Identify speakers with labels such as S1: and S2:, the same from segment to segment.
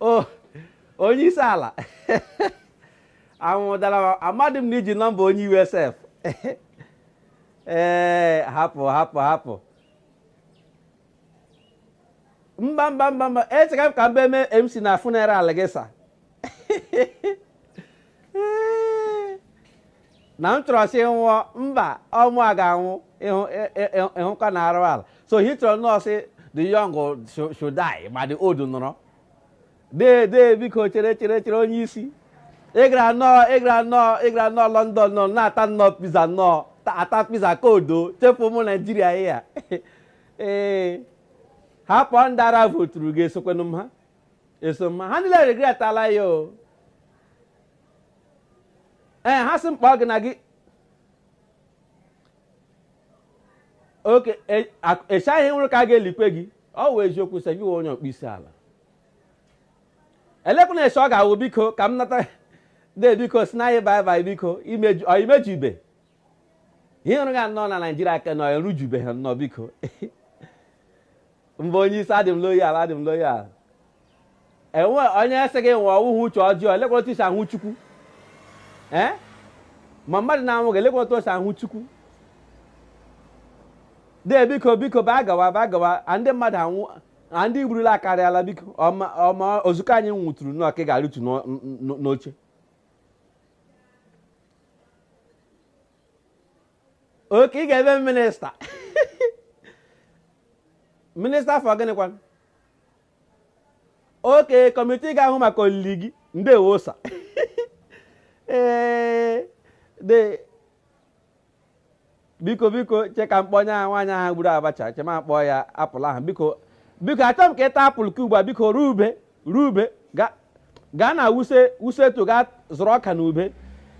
S1: o onye isi ala anwụdara amadị m na i ji nọmba onye iwe sef ee hapụ hapụ hapụ mba mba mba mba echeka m ka m bịa mee mc na funeral gị sa na m chọrọ sị nwụọ mba ọ mụa ga-anwụ ịhụ- ị- ị- ị- ịhụkwa na arụ ala so ị chọrọ nnọọ sị the young should- should die ma the old nọrọ dee dee biko chere chere chere onye isi ị gara nnọọ ị gara nnọọ ị gara nnọọ london nọ na-ata nnọọ pizza nnọọ ta- ata pizza ka odo chefu ụmụ naijiria ị ya ee hapụ ndị ara voturu gị esokwenụ m ha eso m ha ha niile regretala ya o ee eh, ha sị m kpọọ gị na gị oke eshi ị nwụrụ ka a ga-elikwe gị ọ wụ eziokwu sị ị wụ onye ọkpọ isi ala elekwanụ eshi ọ ga-awụ biko ka m nata de biko sịnụ anyị bye bye biko imeju ibe ihe ị rụga nnọọ na naijiria ka nọ erujubeghị nnọọ biko mba onye isi adị m loyal adị m loyal enwe onye sị gị nwụọ ọ wụhụ uche ọjọọ elekwa otu e si ahụ chukwu ee ma mmadụ na-anwụghị elekwa otu o si ahụ chukwu dee biko biko bịa gawa bịa gawa ndị mmadụ anwụ ndị ị gburula akarịala biko ọma ozukọ anyị nwụtụrụ nnọọ ka ị ga-arụtu n'oche oke ị ga-eme m minista minista for gịnịkwa oke kọmitii ga-ahụ maka olili gị ndewo sa ee de biko biko che ka m kpọọ onye ahụ nwaanyị ahụ gburu abacha che m kpọọ ya apụl ahụ biko biko achọ m ka ị ta apụl ka ugbu a biko rube rube ga- gaa na wuse wuse tuu gaa zụrụ ọka na ube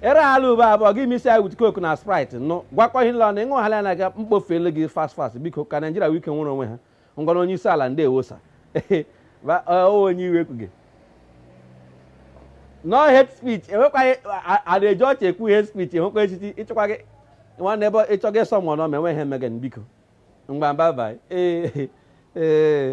S1: ere ala ube abụọ gị misi ya wit koku na sprit ṅụọ gwakọ ihe niile na ị ṅụ hala ya na ga mkpofele gị fast fast biko ka naijiria nwee ike nwere onwe ha ngwanụ onye isi ala ndewo sa onye iwe ekwuge no hate speech enwekwaghị a da-eji ọchị ekwu hate speech enwekwa echichi ịchịkwa gị nwanne ebe ị chọghị iso mụọ n'ọma enweghị emege biko ngwa bai bai ee ee